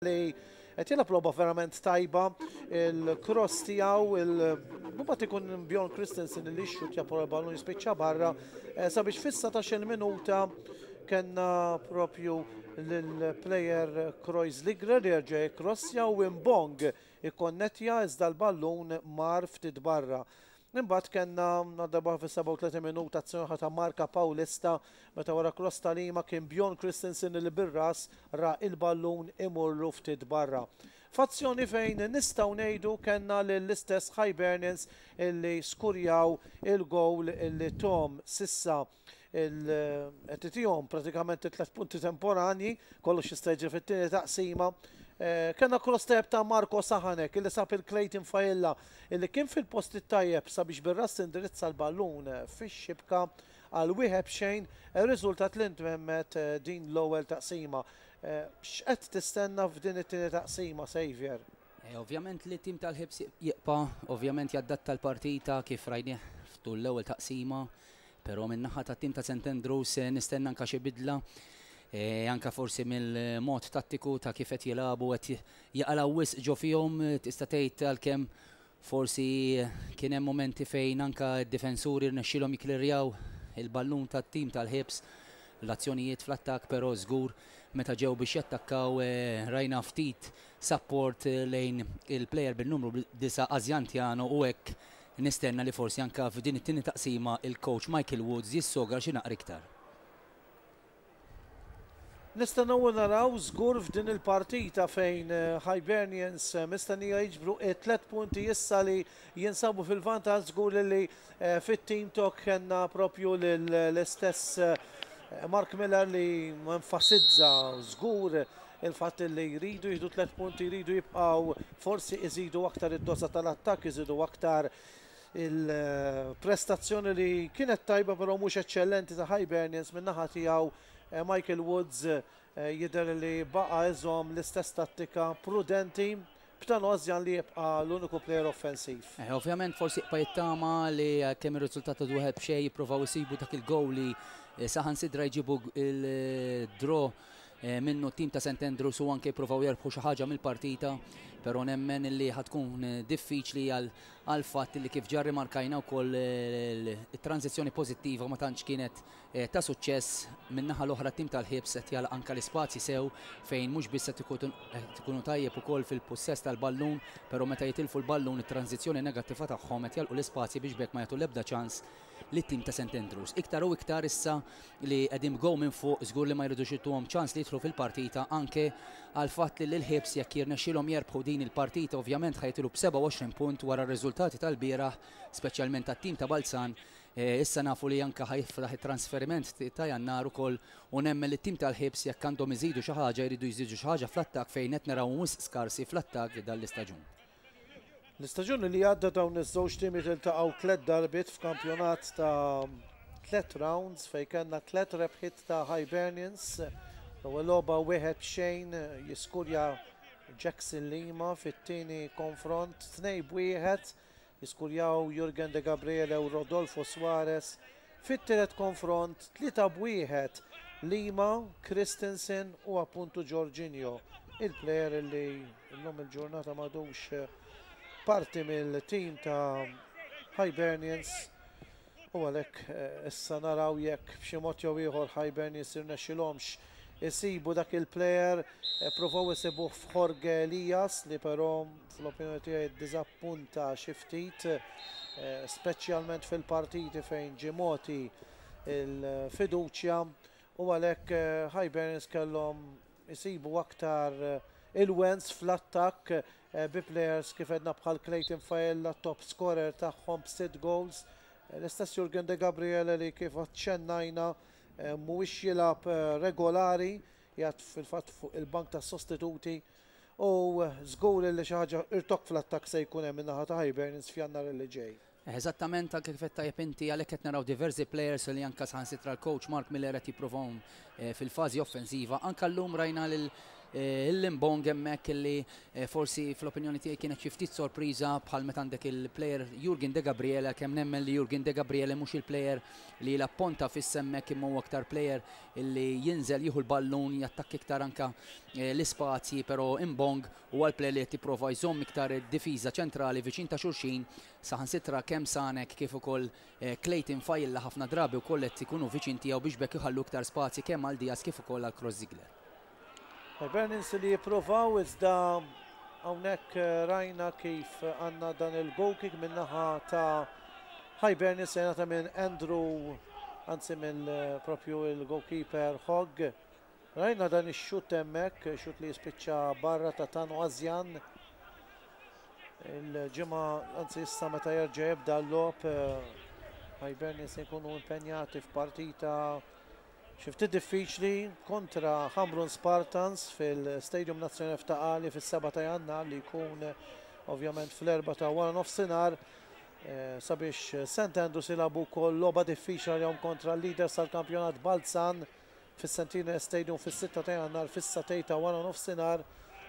li qed jilgħab logħba verament tajba il-cross tiegħu il-bumbat ikun Bjorn Christensen li xxutja por ballun jispiċċa barra eh, sabiex fissa ta' xil minuta kena propju l-player Krois Ligre li rġa crossja u imbong ikonnetja iżda l-ballun mar ftit barra. Imbagħad kellna għal darb'oħra fis-37 minuta azzjoni oħra ta' Marka Paulista meta wara kross ta' Lima kien Bjorn Christensen li bir-ras ra il-ballun imurlu ftit barra. F'azzjoni fejn nistgħu ngħidu kellna lill-istess Hibernians illi skurjaw il-gowl illi Tom s'issa Il-qed tijom pratikament it-tlet punti temporanji, kollox jista' jiġri fit-tieni taqsima. Eh, Kenna cross tajjeb ta' Marko Sahanek illi sab il-Clayton Fajilla illi kien fil-post it-tajjeb sabiex bir-ras indirizza l-ballun eh, fix-xibka għal wieħed xejn eh, riżultat li ntwemmet din l-ewwel taqsima. X'qed tistenna f'din it-tieni taqsima, Xavier? Ovvjament li t-tim tal-ħibs jibqa' ovvjament jaddatta l-partita kif rajnieh f'tul l-ewwel taqsima, però min-naħa tat-tim ta' St Andrews nistenna anke xi bidla, anke forsi mill-mod tattiku ta' kif qed jilagħbu qed jaqalgħu wisq ġo fihom, tista' tgħid għalkemm forsi kien hemm mumenti fejn anke d-difensuri rnexxielhom jiklirjaw il-ballun tat-tim tal-ħibs fl-azzjonijiet fl-attakk, però żgur meta ġew biex jattakkaw rajna ftit sapport lejn il-plejer bin-numru disa' Asiantiano u hekk nistenna li forsi anke f'din it-tieni taqsima l-kowċ Michael Woods jissogra xi naqra iktar. Nistennew naraw żgur f'din il-partita fejn Hibernians mistennija jiġbru t-tliet punti issa li Jinsabu fil-vantaġġ żgur li fit-team talk kellna proprju l-istess Mark Miller li enfasizza żgur il-fatt li jridu jieħdu tliet punti, jridu jibqgħu forsi iżidu aktar id-doża tal-attakk, iżidu aktar il-prestazzjoni li kienet tajba però mhux eċċellenti ta' Hibernians min-naħa tiegħu Michael Woods jidher li baqa' iżomm l-istess tattika prudenti B'dan Ozjan li jibqa' l-uniku plejer offensiv. Eħe, ovvjament forsi jibqa' jittama li għalkemm ir-riżultat għadu wieħed b'xejn jippruvaw isibu dak il-gowl li saħansidra jġibu l-draw minnu t-tim ta' St Andrews u anke jippruvaw jerbħu xi ħaġa mill-partita, però nemmen illi ħa tkun diffiċli għall-fatt li kif ġa rrimarkajna wkoll it-tranżizzjoni pożittiva ma tantx kienet ta' suċċess. Min-naħa l-oħra t-tim tal-Hibs qed jagħlaq anke l-ispazji sew fejn mhux biss qed ikunu tajjeb ukoll fil-pussess tal-ballun, però meta jitilfu l-ballun it-tranżizzjoni negattiva tagħhom qed jagħlqu l-ispazji biex b'hekk ma jagħtu l-ebda ċans lit-tim ta' St Andrews. Iktar u iktar issa li qegħdin b'gowl minn fuq żgur li ma jridux jituhom ċans li jidħlu fil-partita anke għall-fatt li lill-Hibs jekk jirnexxilhom jerbħu din il-partita ovvjament ħa jitilgħu b'27 punt wara r-riżultati tal-bieraħ speċjalment għat-tim ta' Balzan Issa nafu li anke ħa jiflaħ it-transferiment ta' Jannar ukoll u nemmen li t-tim tal-Hibs jekk għandhom iżidu xi ħaġa jridu jżidu xi ħaġa fl-attakk fejn qed narawhom wisq skarsi fl-attakk dan l-istaġun. L-istaġun li għadda dawn iż-żewġ timiet iltaqgħu tliet darbiet f'kampjonat ta' tliet rounds fejn kellna tliet rebħiet ta' Hibernians. L-ewwel logħba wieħed b'xejn jiskurja Jackson Lima fit-tieni konfront tnejn b'wieħed Jiskurjaw Jurgen Degabriele u Rodolfo Suarez fit-tielet konfront, tlieta b'wieħed, Lima, Christensen u appuntu Jorginho, il-plejer li llum il-ġurnata m'għadux parti mill-tim ta' Hibernians. u għalhekk issa naraw jekk b'xi mod jew ieħor Hibernians jirnexxilhomx isibu dak il-player. Pprovaw isibuh f'Jorge Elias li però fl-opinjoni tiegħi ddiżappunta xi ftit, speċjalment fil-partiti fejn ġie mogħti l-fiduċja u għalhekk Hibernians kellhom isibu aktar ilwens fl-attakk Bi plejers kif għedna bħal Clayton Faella t-top scorer tagħhom b'sitt gowls, l-istess Jurgen Degabriele li kif aċċennajna mhuwiex jilgħab regolari, jgħadd fil-fatt fuq il-bank tas-sostituti u żgur li xi ħaġa irtokk fl-attakk se jkun hemm min-naħa ta' Hibernians f'Jannar li ġej. Eżattament għalhekk kif qed tajjeb inti, għalhekk qed naraw diversi plejers li anke saħansitra l-kowċ Mark Miller qed jipprovahom fil-fażi offensiva. Anke llum rajna lil Limbong hemmhekk li forsi fl-opinjoni tiegħi kienet xi ftit sorpriża bħal meta għandek il-plejer Jurgen Degabriele għalkemm nemmen li Jurgen Degabriele mhux il-plejer li jilgħab ponta fissa hemmhekk imma huwa aktar plejer li jinżel jieħu l-ballun jattakka iktar anke l-ispazji però Imbong u għal Plé li qed jipprova jżomm iktar id-difiża ċentrali viċin ta' xulxin, saħansitra kemm Sanek kif ukoll Clayton Failla ħafna drabi wkoll qed ikunu viċin tiegħu biex b'hekk iħallu iktar spazji kemm għal Diaz kif ukoll għal Cross Ziegler. Hibernians li jippruvaw iżda hawnhekk rajna kif għandna dan il-goal kick min-naħa ta' Hibernians se jingħata minn Andrew anzi mill proprju il-goalkeeper Hogg Rajna dan ix-xutt hemmhekk, xutt li jispiċċa barra ta' Tanu Azjan. Il-ġimgħa, anzi issa meta jerġa' jibda l-logħob, Hibernian se jkunu impenjati f'partita xi ftit diffiċli kontra Ħamrun Spartans fil-Stadium Nazzjonali f'Ta' Qali fis-7 ta' Jannar li jkun ovvjament fl-erbgħa ta' wara nofsinhar sabiex St. Andrews jilagħbu wkoll logħba diffiċli għalihom kontra l-leaders tal-kampjonat Balzan. fis-Centenary Stadium fis-sitta ta' Jannar fis-satej ta' wara nofsinhar.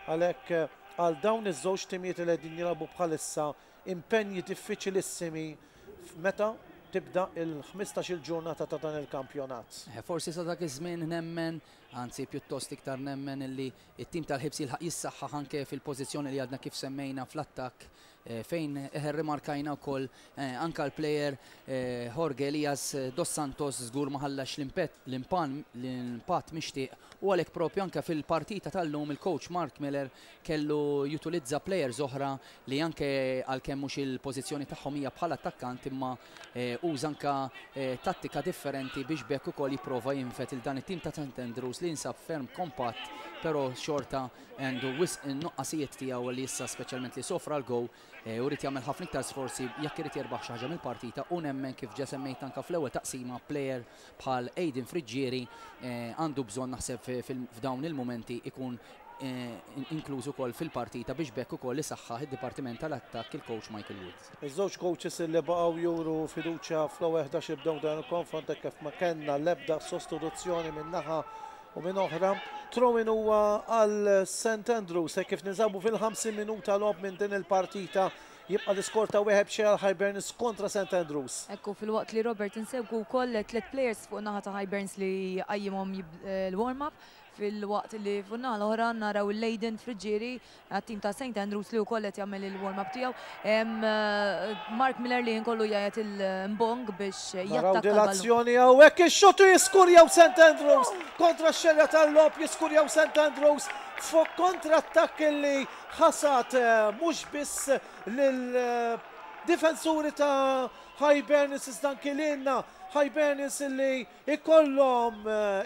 Għalhekk għal dawn iż-żewġ timijiet li qegħdin jilagħbu bħalissa impenji diffiċilissimi f'meta tibda l-ħmistax-il ġurnata ta' dan il-kampjonat. Forsi sa dak iż-żmien nemmen, anzi pjuttost iktar nemmen illi t-tim tal-Hibs jilħaq jissaħħaħ anke fil-pożizzjoni li għadna kif semmejna fl-attakk fejn rrimarkajna wkoll anke l-plejer Jorge Elias dos Santos żgur ma ħallax l-impatt mixtieq u għalhekk proprju anke fil-partita tal-lum il-coach Mark Miller kellu jutilizza plejers oħra li anke għalkemm mhux il-pożizzjoni tagħhom hija bħala attakkant imma uża anke tattika differenti biex b'hekk ukoll jipprova jinfed lil dan it-tim ta' St Andrews li jinsab ferm kompatt però xorta Għandu wisq nuqqasijiet tiegħu li issa speċjalment li sofra l-goal u jrid jagħmel ħafna iktar sforzi jekk irid jerbaħ xi ħaġa mill-partita u nemmen kif ġa semmejt anke fl-ewwel taqsima player bħal Aiden Friggieri għandu bżonn naħseb f'dawn il-mumenti ikun inkluż ukoll fil-partita biex b'hekk ukoll isaħħaħ id-dipartiment tal-attakk il-coach Michael Wood. Iż-żewġ kowċis li baqgħu juru fiduċja fl-ewwel ħdax li bdew dan il-konfront hekk kif ma kellna l-ebda sostituzzjoni minn naħa u minn oħra. Throw-in huwa għal St Andrews hekk kif ninsabu fil-50 minuta logħob minn din il-partita. Jibqa' l-iskor ta' wieħed b'xejn għal Hiberns kontra St Andrews. Hekk hu filwaqt li Robert insegwu wkoll tliet players fuq naħa ta' Hiberns li qajjimhom l-warm-up filwaqt li fuq naħa l-oħra naraw il-Leyden Friggieri għat-tim ta' St Andrews li wkoll qed jagħmel il-warm-up tiegħu. Hemm Mark Miller li ħin kollu jgħid il-mbong biex Naraw jattakka din l-ballun. l-azzjoni hawnhekk ix-xutt u jiskurjaw St Andrews. Kontra x-xerja tal-logħob jiskurjaw St Andrews fuq kontrattakk li ħasad mhux biss lill-difensuri ta' Hibernians iżda anki lilna. Hibernians li jkollhom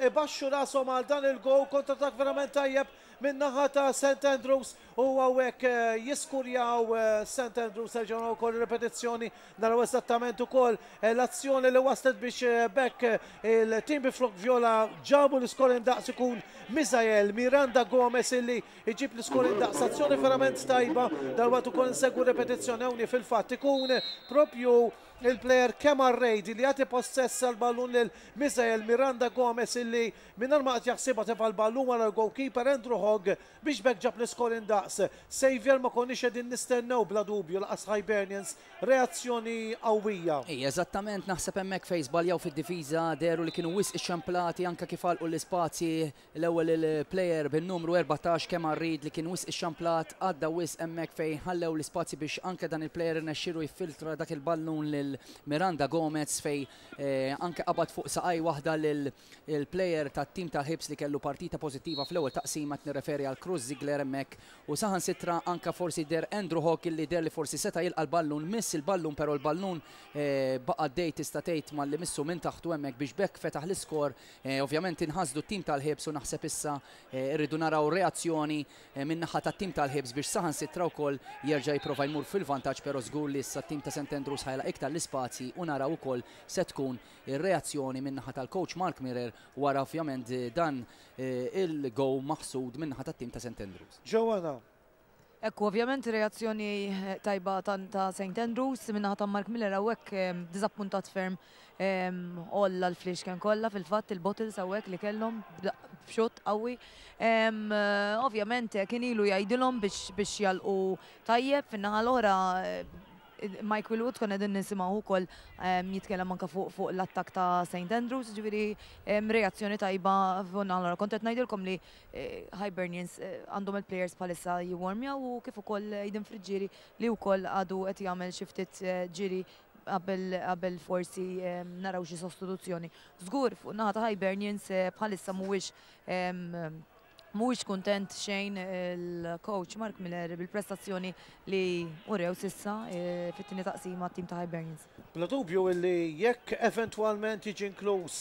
ibaxxu rashom għal dan il-gowl. Kontrattakk verament tajjeb min-naħa ta' St Andrews u hawnhekk jiskurjaw St Andrews, nerġgħu naraw ukoll ir-ripetizzjoni, naraw eżattament ukoll l-azzjoni li wasslet biex b'hekk il-tim bi flokk vjola ġabu l-iskor indaqs ikun Misael Miranda Gomez illi jġib l-iskor indaqs, azzjoni verament tajba, dalwaqt ukoll insegwu r-ripetizzjoni hawnhi fil-fatt ikun proprju l-plejer Kemar Reid illi jagħti possess tal-ballun lil Misael Miranda Gomez illi Mingħajr ma qed jaħsibha tefa' l-ballun wara l-gowlkiper Andrew Hogg biex b'hekk ġab l-iskorin daqs. Saviour ma konniex qegħdin nistennew bla dubju lanqas Hibernians reazzjoni qawwija. Hi, eżattament, naħseb hemmhekk fejn żbaljaw fid-difiża, dehru li kienu wisq ixxemplati anke kif għalqu l-ispazji, l-ewwel il-player bin-numru 14 Kemar Reid li kien wisq ixxamplat, għadda wisq hemmhekk fejn ħallew l-ispazji biex anke dan il-player irnexxielu jiffiltra dak il-ballun lil Miranda Gomez fejn anke qabad fuq saqajh waħda lil il-plejer tat-tim ta' Hibs li kellu partita pożittiva fl-ewwel taqsima, qed nirreferi għal Cruz Ziegler hemmhekk, u saħansitra anke forsi deher Andrew Hogg illi deher li forsi seta' jilqa' l-ballun, miss il-ballun però l-ballun baqa' għaddej tista' tgħid malli missu minn taħtu hemmhekk biex b'hekk fetaħ l-iskor. Ovvjament inħasdu t-tim tal-Hibs u naħseb issa rridu naraw reazzjoni min-naħa tat-tim tal-Hibs biex saħansitra wkoll jerġa' jipprova jmur fil-vantaġġ però żgur li issa t-tim ta' St Andrews ħa jilgħaq iktar l-ispazji u naraw ukoll se tkun ir-reazzjoni min-naħa tal-kowċ Mark Mirror wara ovvjament dan il-goal maħsud min-naħa tat-tim ta' St Andrews. Joanna. Hekk hu ovvjament reazzjoni tajba ta' St Andrews min-naħa ta' Mark Miller hawnhekk diżappuntat ferm olla l-fliexken kollha fil-fatt il-bottles hawnhekk li kellhom b'xott qawwi. Ovvjament kien ilu jgħidilhom biex jalqu tajjeb fin-naħa l-oħra Mike Wilwood konna qegħdin nisimgħuh ukoll jitkellem anke fuq fuq l-attakk ta' St Andrews, ġifieri reazzjoni tajba f'għonn allora kont qed ngħidilkom li Hibernians għandhom il-players bħalissa jiwarmjaw u kif ukoll Aiden Friggieri li wkoll għadu qed jagħmel xi ftit ġiri qabel qabel forsi naraw xi sostituzzjoni. Żgur fuq naħa ta' Hibernians bħalissa mhuwiex Mhuwiex kuntent xejn il-kowċ Mark Miller bil-prestazzjoni li urew s'issa fit-tieni taqsima t-tim ta' Hibernians. Bla dubju li jekk eventwalment jiġi inkluż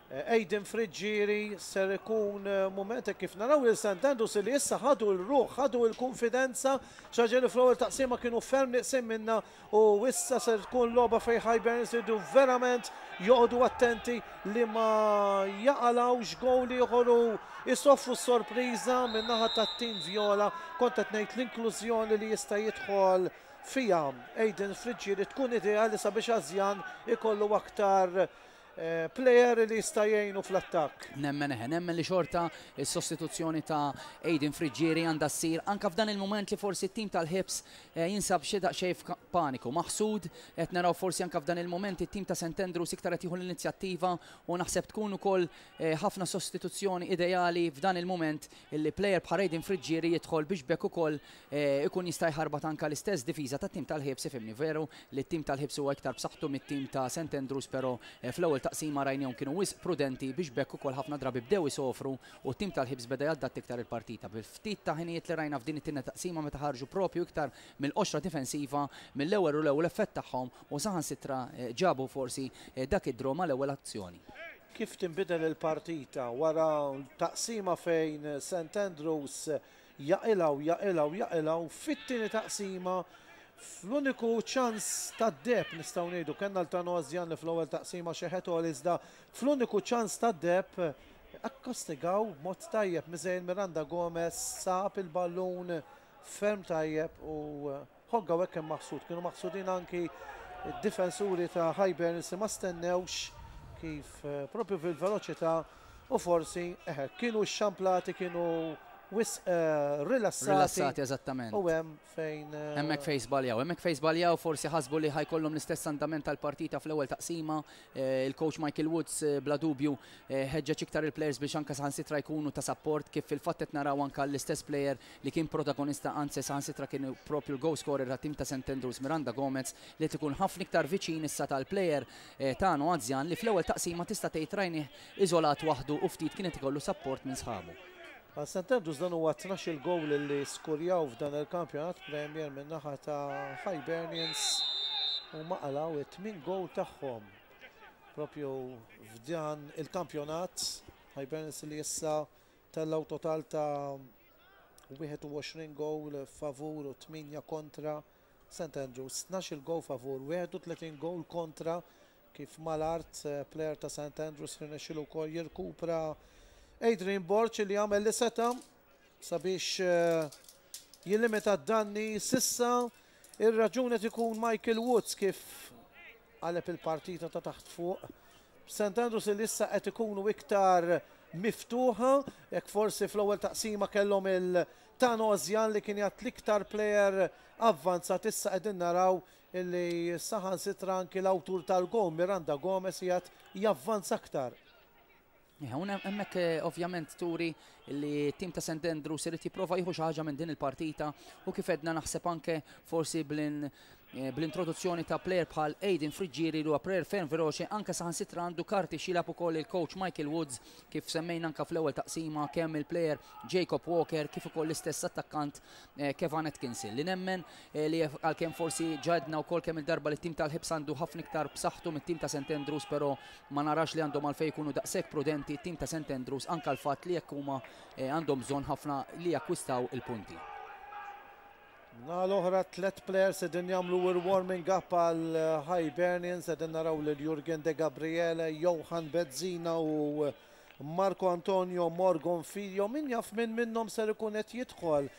Aiden Friggieri ser ikun mument hekk kif naraw lil St Andrews li issa ħadu l-ruħ, ħadu l-kunfidenza, xi ħaġa li fl-ewwel taqsima kienu ferm nieqsin minnha U issa ser tkun logħba fejn Hibernians iridu verament joqogħdu attenti li ma jaqalgħux gowl ieħor u jsofru s-sorpriża min-naħa tat-tim Vjola. Kont qed ngħid l-inklużjoni li jista' jidħol fiha Aiden Friggieri tkun ideali sabiex Azjan ikollu aktar Plejer li jista' jgħinu fl-attakk. Nemmen eħe, nemmen li xorta s-sostituzzjoni ta' Aiden Friggieri għandha ssir anke f'dan il-mument li forsi t-tim tal-Hibs jinsab xi daqsxejn f'paniku. Maħsud, qed naraw forsi anke f'dan il-mument it-tim ta' St Andrews iktar qed jieħu l-inizjattiva u naħseb tkun ukoll ħafna sostituzzjoni ideali f'dan il-mument li plejer bħal Aiden Friggieri jidħol biex b'hekk ukoll ikun jista' jħarbat anke l-istess difiża tat-tim tal-ħiebs ifhimni veru li t-tim tal-ħiebs huwa iktar b'saħħtu mit-tim ta' St Andrews però fl-ewwel taqsima rajnihom kienu wisq prudenti biex b'hekk ukoll ħafna drabi bdew isofru u t-tim tal-ħiebs beda jaddatti iktar il-partita bil-ftit ta' ħinijiet li rajna f'din it-tieni taqsima meta ħarġu proprju iktar mill-qoxra difensiva mill-ewwel u l-ewwel effett tagħhom u saħansitra ġabu forsi dak id-draw mal-ewwel azzjoni. Kif tinbidel il-partita wara taqsima fejn St Andrews Jaqilgħa u jaqilgħa u jaqilgħa u fit-tieni taqsima fl-uniku ċans tad-deheb nistgħu ngħidu kellna Altano Għażżjan li fl-ewwel taqsima xeħet gol iżda fl-uniku ċans tad-deheb akkostigaw b'mod tajjeb Misael Miranda Gomez sab il-ballun ferm tajjeb u Hogg hawnhekk kien maħsud. Kienu maħsudin anki d-difensuri ta' Hibernians li ma stennewx kif proprju fil-veloċità u forsi, eħe, kienu xxamplati, kienu wisq rilassati. Rilassati, eżattament. U hemm fejn. Hemmhekk fejn żbaljaw. Hemmhekk fejn żbaljaw, forsi ħasbu li ħa jkollhom l-istess andament tal-partita fl-ewwel taqsima. Il-coach Michael Woods bla dubju ħeġġeġ iktar il-players biex anke saħansitra jkunu ta' sapport kif fil-fatt qed naraw anke l-istess player li kien protagonista anzi saħansitra kien proprju l-goal scorer tat-tim ta' St Andrews Miranda Gomez li qed ikun ħafna iktar viċin issa tal-player tagħna anzjan li fl-ewwel taqsima tista' tgħid rajnih iżolat waħdu u ftit kien qed ikollu sapport minn sħabu. Għal St Andrews dan huwa t-tnax-il gowl li skurjaw f'dan il-Kampjonat Premier min-naħa ta' Hibernians huma qalgħu t-tmien gowl tagħhom proprju f'dan il-kampjonat Hibernians li issa tellgħu total ta' 21 gowl favur u 8 kontra St Andrews, 12-il gowl favur, 31 gowl kontra kif mal-art plejer ta' St Andrews rnexxielu wkoll jirkupra Adrian Borg li għamel li seta' sabiex jillimita d-danni s'issa ir-raġun qed ikun Michael Woods kif qaleb il-partita ta' taħt fuq St Andrews li issa qed ikunu iktar miftuħa, jekk forsi fl-ewwel taqsima kellhom il Tan Ozjan li kien jgħadd l-iktar plejer avvanzat issa qegħdin naraw li saħansitra anki l-awtur tal-gowl Miranda Gomez jgħadd javvanza aktar. Hawn hemmhekk eh, ovvjament turi li tim ta' St. Andrews irid jipprova jieħu xi ħaġa minn din il-partita u kif edna naħseb anke forsi blin bl-introduzzjoni ta' plejer bħal Aiden Friggieri li huwa plejer ferm veloċi anke saħansitra għandu karti x'jilgħab ukoll il-kowċ Michael Woods kif semmejna anke fl-ewwel taqsima kemm il-plejer Jacob Walker kif ukoll l-istess attakkant Kevan Atkinson li nemmen li għalkemm forsi ġa għedna wkoll kemm il-darba li t-tim tal-Hibs għandu ħafna iktar b'saħħtu mit-tim ta' St Andrews però ma narax li għandhom għalfejn ikunu daqshekk prudenti t-tim ta' St Andrews anke l-fatt li jekk huma għandhom bżonn ħafna li jakkwistaw il-punti. Min-naħa l-oħra, tliet plejers qegħdin jagħmlu warming up għal Hibernians, qegħdin naraw lil Jurgen Degabriele, Johan Bezzina u Marco Antonio Morgon Figlio. Min jaf min minnhom ser ikun qed jidħol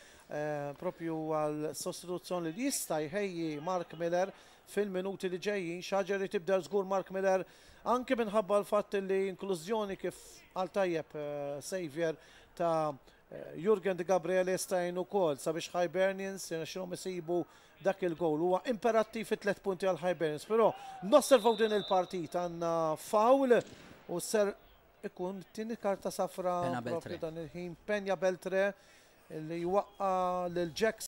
proprju għal sostituzzjoni li jista' jħejji Mark Miller fil-minuti li ġejjin. Xi ħaġa jrid jibdel żgur Mark Miller anki minħabba l-fatt li inklużjoni kif qal tajjeb Saviour ta' Jurgen De Gabriele jista' jgħin ukoll sabiex Hibernians jirnexxilhom isibu dak il-gowl. Huwa imperattiv it-tliet punti għal Hibernians, però nosservaw din il-partita għandna foul u ser ikun tieni karta safra propju dan il-ħin Penya Beltre li jwaqqa' lil Jackson.